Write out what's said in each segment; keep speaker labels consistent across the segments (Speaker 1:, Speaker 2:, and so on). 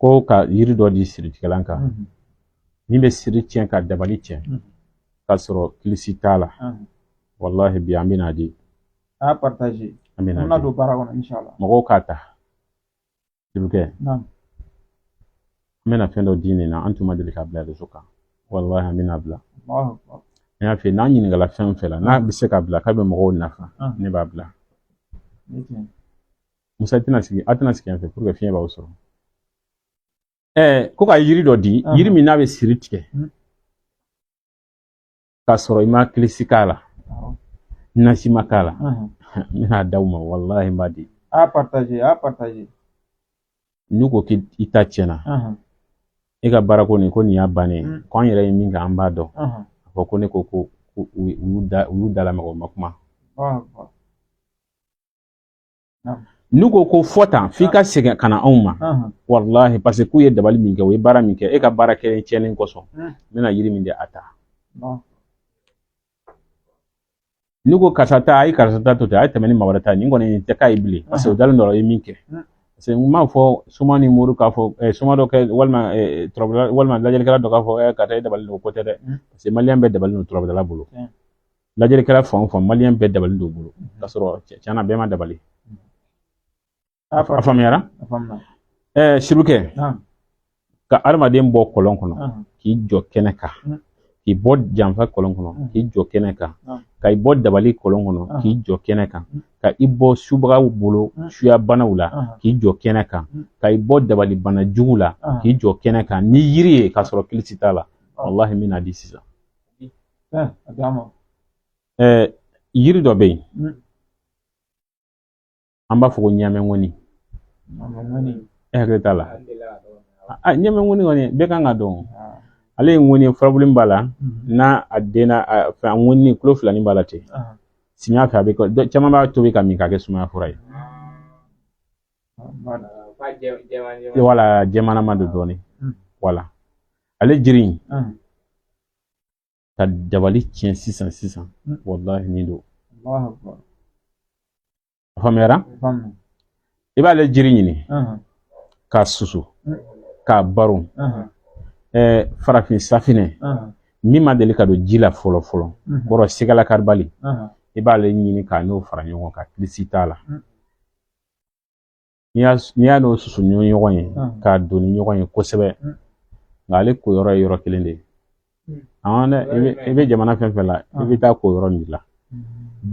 Speaker 1: ko ka yiri dɔ di siritigɛlan kan min bɛ siri tiɲɛ ka dabali tiɲɛ k'a sɔrɔ kilisi t'a la walahi bi an bɛna di a partage
Speaker 2: an bɛna an don
Speaker 1: baara kɔnɔ inshallah
Speaker 2: mɔgɔw k'a ta
Speaker 1: dibikɛ an bɛna fɛn dɔ di nin na an tun ma deli ka bila rezo kan walahi an bɛna bila n y'a f'i ye n'an ɲininkala fɛn fɛn la n'a bɛ se ka bila k'a bɛ mɔgɔw nafa ne b'a bila musa i tɛna sigi a tɛna sigi yan fɛ pour que fiɲɛ b'aw sɔrɔ ɛɛ ko ka yiri dɔ di yiri min n'a bɛ siri tigɛ k'a sɔrɔ i ma kilisi k'a la nasi ma k'a la n bɛna d'aw ma walahi n b'a di a partage a partage n'u ko k'i ta tiɲɛna e ka baara ko nin ko nin y'a bannen ye ko an yɛrɛ ye min kɛ an b'a dɔn a fɔ ko ne ko ko u y'u da u y'u da lamaga u ma kuma n'u ko ko fɔ tan f'i ka segin ka na anw ma walahi paseke k'u ye dabali min kɛ u ye baara min kɛ e ka baara kɛ tiɲɛnen kosɔn n bɛna yiri min di a ta n'u ko karisa ta a ye karisa ta to ten a ye tɛmɛ ni maa wɛrɛ ta nin kɔni tɛ k'a ye bilen paseke o dalen dɔ ye min kɛ parce que n m'a fɔ soma ni mori k'a fɔ eh, soma dɔ kɛ walima eh, turabudala walima lajɛlikɛla dɔ k'a fɔ eh, karisa e dabali don o ko tɛ dɛ mm. parce que maliyɛn bɛɛ dabali don turabudala bolo mm. lajɛlikɛla fan o fan maliyɛn bɛɛ dabali don bolo k'a sɔrɔ tiɲɛna bɛɛ ma dabali a faamuyara ɛɛ sirukɛ ka adamaden bɔ kɔlɔn kɔnɔ k'i jɔ kɛnɛ kan k'i bɔ janfa kɔlɔn kɔnɔ k'i jɔ kɛnɛ kan ka i bɔ dabali kɔlɔn kɔnɔ k'i jɔ kɛnɛ kan ka i bɔ subagaw bolo suya banaw la k'i jɔ kɛnɛ kan ka i bɔ dabali bana jugu la k'i jɔ kɛnɛ kan ni yiri ye k'a sɔrɔ kilisi t'a la walahi n bɛna di sisan yiri dɔ bɛ yen mm. an b'a fɔ ko ɲamɛŋɔni e hakili t'a la ɲamɛŋɔni kɔni bɛɛ kan ka dɔn ah. ale ye ŋɔni furabulu b'a la mm-hmm. n'a a denna fɛn ŋɔni kulo filanin b'a la ten ah. samiya fɛ a bɛ caman b'a tobi ka min k'a kɛ sumaya fura ye ah. wala jɛmanama don dɔɔnin mm. wala ale jiri in Ahan. ka dabali tiɲɛ sisan sisan Mm. walahi nin don Allahu akbar. a faamuyara Faamu. i b'ale jiri ɲini Ahan. k'a susu Mm. k'a baron Ahan. ɛɛ farafin safinɛ Ahan. min ma deli ka don ji la fɔlɔ fɔlɔ Mhm. kɔrɔ sigala karibali Ahan. i b'ale ɲini k'a n'o fara ɲɔgɔn kan kilisi t'a la Mm. n'i y'a n'i y'a n'o susu ni ɲɔgɔn ye k'a don ni ɲɔgɔn ye kosɛbɛ nka ale ko yɔrɔ ye yɔrɔ kelen de ye an dɛ i bɛ i bɛ jamana fɛn fɛn la i bɛ taa ko yɔrɔ min la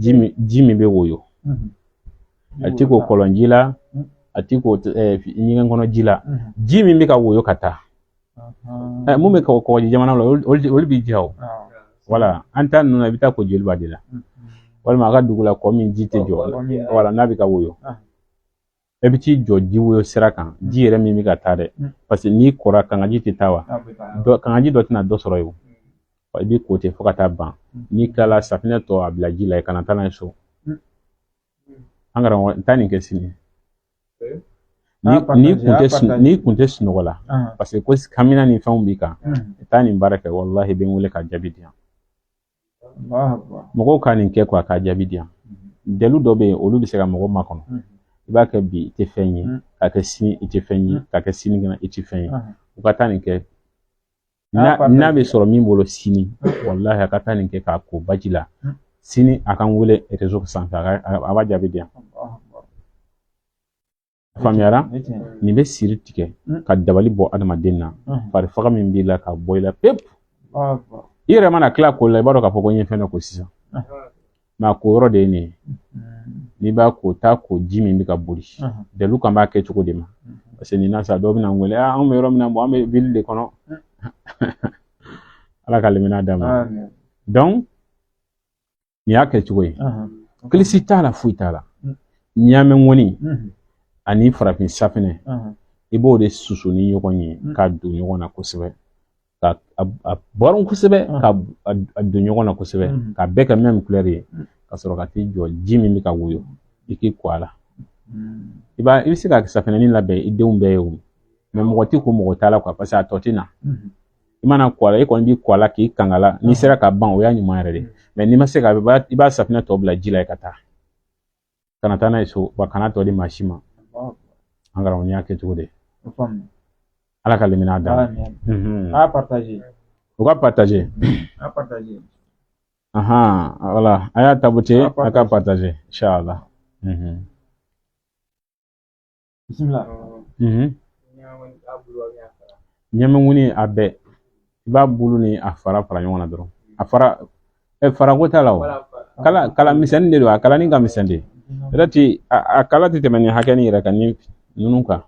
Speaker 1: ji min ji min bɛ woyo a ti ko kɔlɔnji la a ti ko ɲɛgɛn kɔnɔ ji la ji min bɛ ka woyo ka taa mun bɛ ka o kɔgɔji jamana la olu b'i ja o wala an ta ninnu na i bɛ taa ko joliba de la walima a ka dugu la kɔ min ji tɛ jɔ wala n'a bɛ ka woyo e bɛ t'i jɔ ji woyo sira kan ji yɛrɛ min bɛ ka taa dɛ paseke n'i kora kangaji tɛ taa wa kangaji dɔ tɛna dɔ sɔrɔ yen i bɛ ko ten fo ka taa ban n'i tilala safinɛ tɔ a bila ji la i kana taa n'a ye so an karamɔgɔ n taa nin kɛ sini n'i kun tɛ n'i kun tɛ sunɔgɔ la paseke ko kamina ni fɛnw b'i kan i taa nin baara kɛ walahi i bɛ n wele ka jaabi di yan mɔgɔw ka nin kɛ kuwa k'a jaabi di yan dalu dɔ bɛ yen olu bɛ se ka mɔgɔ makɔnɔ i b'a kɛ bi i tɛ fɛn ye ka kɛ sini i tɛ fɛn ye ka kɛ sinikɛnɛ i tɛ fɛn ye u ka taa nin kɛ n'a bɛ sɔrɔ min bolo sini walahi a ka taa nin kɛ k'a ko baji la sini a ka n wele sanfɛ a b'a jaabi di yan faamuyara nin bɛ siri tigɛ ka dabali bɔ adamaden na farifaga min b'i la ka bɔ i la pewu i yɛrɛ mana tila ko la i b'a dɔn k'a fɔ ko n ye fɛn dɔ ko sisan mɛ a ko yɔrɔ de ye nin ye n'i b'a ko taa ko ji min bɛ ka boli dalu kan b'a kɛ cogo de ma parce que nin na sa dɔw bɛna n wele anw bɛ yɔrɔ min na bon an bɛ ville de kɔnɔ ala ka lemina d'a ma donc nin y'a kɛ cogo ye kilisi t'a la foyi t'a la ɲaamɛ ŋɔni ani farafin safinɛ i b'o de susu ni ɲɔgɔn ye k'a don ɲɔgɔn na kosɛbɛ ka a bɔrɔn kosɛbɛ ka a don ɲɔgɔn na kosɛbɛ ka bɛɛ kɛ même couleur ye ka sɔrɔ ka t'i jɔ ji min bɛ ka woyo i k'i ko a la i b'a i bɛ se ka safinɛni labɛn i denw bɛɛ ye o mɔgɔ tɛ ko mɔgɔ t'a la kuwa paseke a tɔ tɛ na i mana ko a la e kɔni b'i ko a la k'i kanga la n'i sera ka ban o y'a ɲuman yɛrɛ de mɛ n'i ma se ka i b'a safinɛ tɔ bila ji la yen ka taa kana taa n'a ye so wa kana tɔ di maa si ma an karamɔgɔ y'a kɛ cogo de ala ka limina da
Speaker 2: a partager u ka
Speaker 1: partager a partager ahan wala a y'a tapoter a ka partager inshallah bisimila ɲaamɛ ŋɔni a bɛɛ i b'a bulu ni a fara fara ɲɔgɔn na dɔrɔn a fara ɛ fara ko t'a la o kala kala misɛnnin de don a kalanin ka misɛn de peut-être a kala tɛ tɛmɛ nin hakɛ nin yɛrɛ kan ni ninnu kan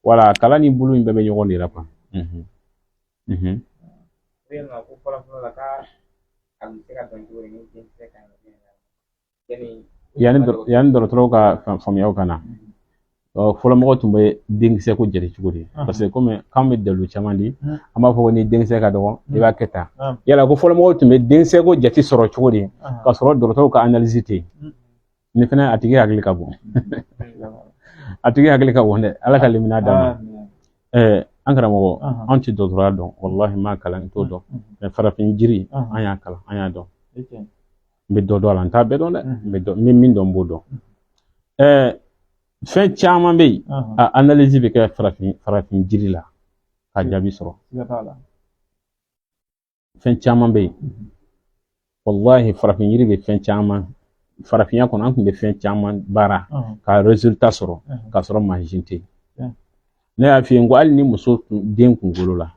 Speaker 1: wala a kala ni bulu in bɛɛ bɛ ɲɔgɔn de la kuwa yanni dɔgɔtɔrɔw ka faamuyaw ka na fɔlɔ mɔgɔ tun bɛ denkisɛ ko jate cogo di parce que kɔmi k'an bɛ dalu caman di an b'a fɔ ko ni denkisɛ ka dɔgɔ i b'a kɛ tan yala ko fɔlɔ mɔgɔw tun bɛ denkisɛ ko jate sɔrɔ cogo di ka sɔrɔ dɔgɔtɔrɔw ka analyse tɛ nin fɛnɛ a tigi hakili ka bon a tigi hakili ka bon dɛ ala ka limaniya d'a ma an karamɔgɔ an tɛ dɔgɔtɔrɔya dɔn walahi n m'a kalan n t'o dɔn mɛ farafin jiri an y'a kalan an y'a dɔn n bɛ dɔ dɔn a la n t'a bɛɛ dɔn dɛ n bɛ dɔ n bɛ min dɔn n b'o dɔn ɛɛ fɛn caman bɛ yen a analyse bɛ kɛ farafin farafin jiri la ka jaabi sɔrɔ fɛn caman bɛ yen walahi farafin yiri bɛ fɛn caman farafinya kɔnɔ an tun bɛ fɛn caman baara ka resultat sɔrɔ ka sɔrɔ mansin tɛ yen ne y'a f'i ye n ko hali ni muso den kunkolo la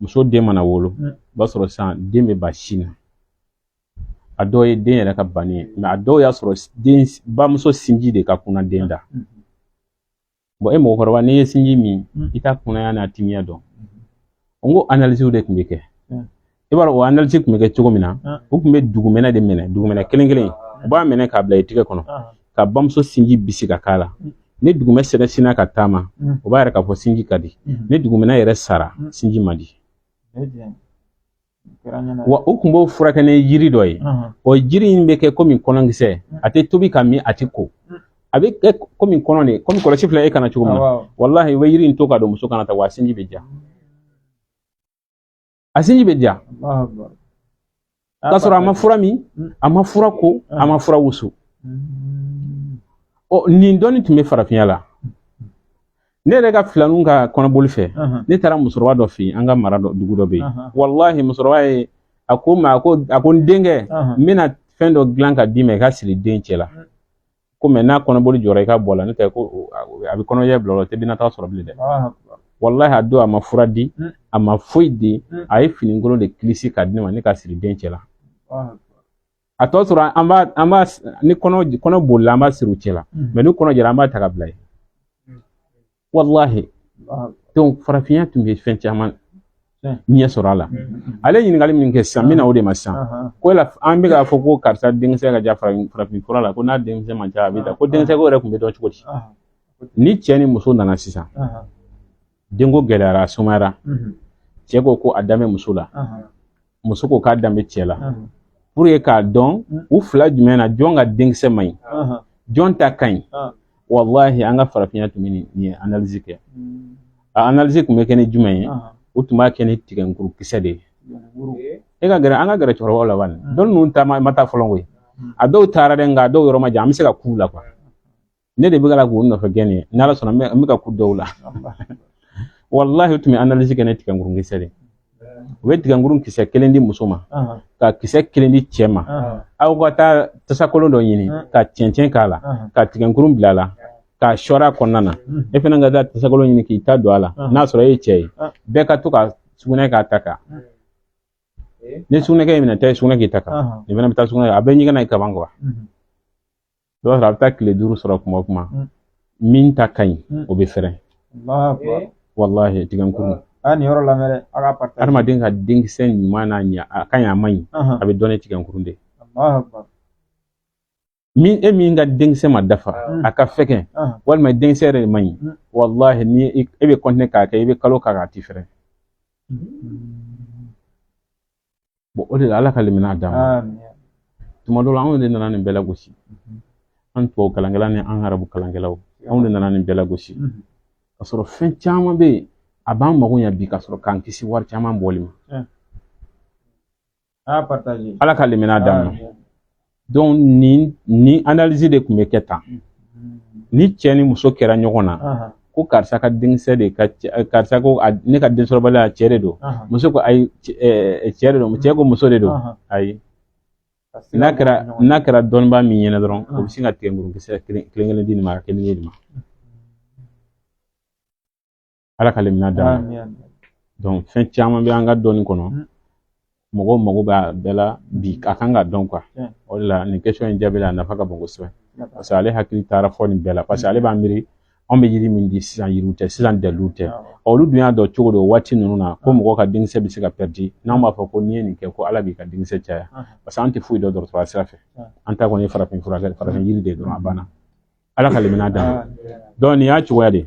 Speaker 1: muso den mana wolo o b'a sɔrɔ sisan den bɛ ban sin na a dɔw ye den yɛrɛ ka banni ye mɛ a dɔw y'a sɔrɔ den bamuso sinji de ka kuna den da bon e mɔgɔkɔrɔba n'i ye sinji min i t'a kunaya n'a timiya dɔn n ko analisi de tun bɛ kɛ i b'a dɔn o analisi tun bɛ kɛ cogo min na u tun bɛ dugumɛnɛ de minɛ dugumɛnɛ kelen kelen u b'a minɛ k'a bila i tigɛ kɔnɔ ka bamuso sinji bisi ka k'a la ni dugumɛnɛ sinna ka taama o b'a yira k'a fɔ sinji ka di ni dugumɛnɛ yɛrɛ sara sinji man di wa u kun b'o furakɛ ni jiri dɔ ye o jiri in bɛ kɛ komi kɔnɔnkisɛ a tɛ tobi ka min a tɛ ko a bɛ kɛ komi kɔnɔn de kɔmi kɔlɔsi filɛ e kan na cogo min na walahi i bɛ yiri in to ka don muso kan na tan wa sinji bɛ ja a sinji bɛ ja k'a sɔrɔ a ma fura min a ma fura ko a ma fura wusu ɔ nin dɔnni tun bɛ farafinya la ne yɛrɛ ka filaninw ka kɔnɔboli fɛ ne taara musokɔrɔba dɔ fɛ yen an ka mara dɔ dugu dɔ bɛ yen walahi musokɔrɔba ye a ko n ma a ko a ko n denkɛ n bɛna fɛn dɔ dilan ka d'i ma i k'a siri den cɛ la ko mɛ n'a kɔnɔboli jɔra i k'a bɔ a la n'o tɛ ko a bɛ kɔnɔja bila o la o tɛ bɛna taa sɔrɔ bilen dɛ walahi a don a ma fura di a ma foyi di a ye finikolon de kilisi k'a di ne ma ne k'a siri den cɛ la a tɔ sɔrɔ an b'a an b'a ni kɔnɔ kɔnɔ bolila an b'a siri u cɛ la mm. mɛ ni kɔnɔ jara an b'a ta ka bila yen mm. walahi donc farafinya tun bɛ fɛn caman ɲɛ sɔrɔ a la mm. ale ɲininkali min kɛ sisan n bɛna o de ma sisan ko yala an bɛ k'a fɔ ko karisa denkisɛ ka ca farafin fura la ko n'a denkisɛ man ca a bɛ ta ko denkisɛ ko yɛrɛ tun bɛ dɔn cogo di ni cɛ ni muso nana sisan denko gɛlɛyara a sumayara Mhm. cɛ ko ko a dan bɛ muso la Ahan. muso ko k'a dan bɛ cɛ la Ahan. pour que k'a dɔn Mm. u fila jumɛn na jɔn ka denkisɛ man ɲi Ahan. jɔn ta ka ɲi Ah. walahi an ka farafinya tun bɛ nin nin analyse kɛ Mm. a analyse tun bɛ kɛ ni jumɛn ye Ahan. u tun b'a kɛ ni tigɛnkuru kisɛ de ye Woro. e ka gɛrɛ an ka gɛrɛ cɛkɔrɔbaw la bani Mm. dɔnni ninnu taama ma taa fɔlɔ koyi Mm. a dɔw taara dɛ nka a dɔw yɔrɔ ma jan an bɛ se ka k'u la quoi ne de bɛ ka k'u nɔfɛ gɛn nin n'ala sɔnna n bɛ ka kun dɔw la walahi u tun bɛ analyse kɛ ni tigɛnkuru kisɛ de u bɛ tigɛnkuru kisɛ kelen di muso ma ka kisɛ kelen di cɛ ma aw ka taa tasakolon dɔ ɲini ka cɛncɛn k'a la ka tigɛnkuru bila a la k'a sɔr'a kɔnɔna na e fana ka taa tasakolon ɲini k'i ta don a la n'a sɔrɔ e ye cɛ ye bɛɛ ka to ka sugunɛ k'a ta kan ni sugunɛ k'e minɛ taa sugunɛ k'i ta kan nin fana bɛ taa sugunɛ a bɛ ɲɛgɛn na i kaban quoi i b'a sɔrɔ a bɛ taa tile duuru sɔrɔ kuma o kuma mm. min ta ka ɲi mm. o bɛ fɛrɛn walahi tigɛnkuru a nin yɔrɔ lamɛn dɛ
Speaker 2: a ka partager adamaden ka denkisɛ
Speaker 1: ɲuman n'a ɲa a ka ɲi a man ɲi a bɛ dɔn ni tigɛnkuru de min e min ka denkisɛ ma dafa a ka fɛgɛn walima denkisɛ yɛrɛ de man ɲi walahi ni e bɛ continuer k'a kɛ i bɛ kalo k'a k'a ti fɛrɛn o de la ala ka limaniya d'a ma
Speaker 2: tuma dɔ la
Speaker 1: anw de nana nin bɛɛ lagosi an tubabu kalankɛla ni an arabu kalankɛlaw anw de nana nin bɛɛ lagosi ka sɔrɔ fɛn caman bɛ yen a b'an mago ɲɛ bi ka sɔrɔ k'an kisi wari caman bɔli ma
Speaker 2: ala ka limaniya d'a ma
Speaker 1: donc nin analyse de tun bɛ kɛ tan ni cɛ ni muso kɛra ɲɔgɔn na ko karisa ka denkisɛ de ka karisa ko ne ka densɔrɔbaliya cɛ de don muso ko ayi cɛ de don cɛ ko muso de don ayi n'a kɛra n'a kɛra dɔnnibaa min ɲɛna dɔrɔn o bɛ sin ka tigɛnkuru kisɛ kelen kelen di nin ma kelen di nin ma ala ka limaniya d'a ma donc fɛn caman bɛ an ka dɔnni kɔnɔ mm. mɔgɔw mago b'a bɛɛ la bi a kan ka dɔn quoi o de la nin question in jaabi la a nafa ka bon kosɛbɛ parce que ale hakili taara fɔ nin bɛɛ la parce que ale b'a miiri anw bɛ yiri min di sisan yiriw tɛ sisan daliluw tɛ olu dun y'a dɔn cogo di waati ninnu na ko mɔgɔ ka denkisɛ bɛ se ka pɛridi n'an b'a fɔ ko n'i ye nin kɛ ko ala b'i ka denkisɛ caya parce que an tɛ foyi dɔn dɔgɔtɔrɔya sira fɛ an ta kɔni farafin furakɛ farafin yiri de dɔrɔn a banna ala ka limaniya d'a ma donc nin y'a cogoya de ye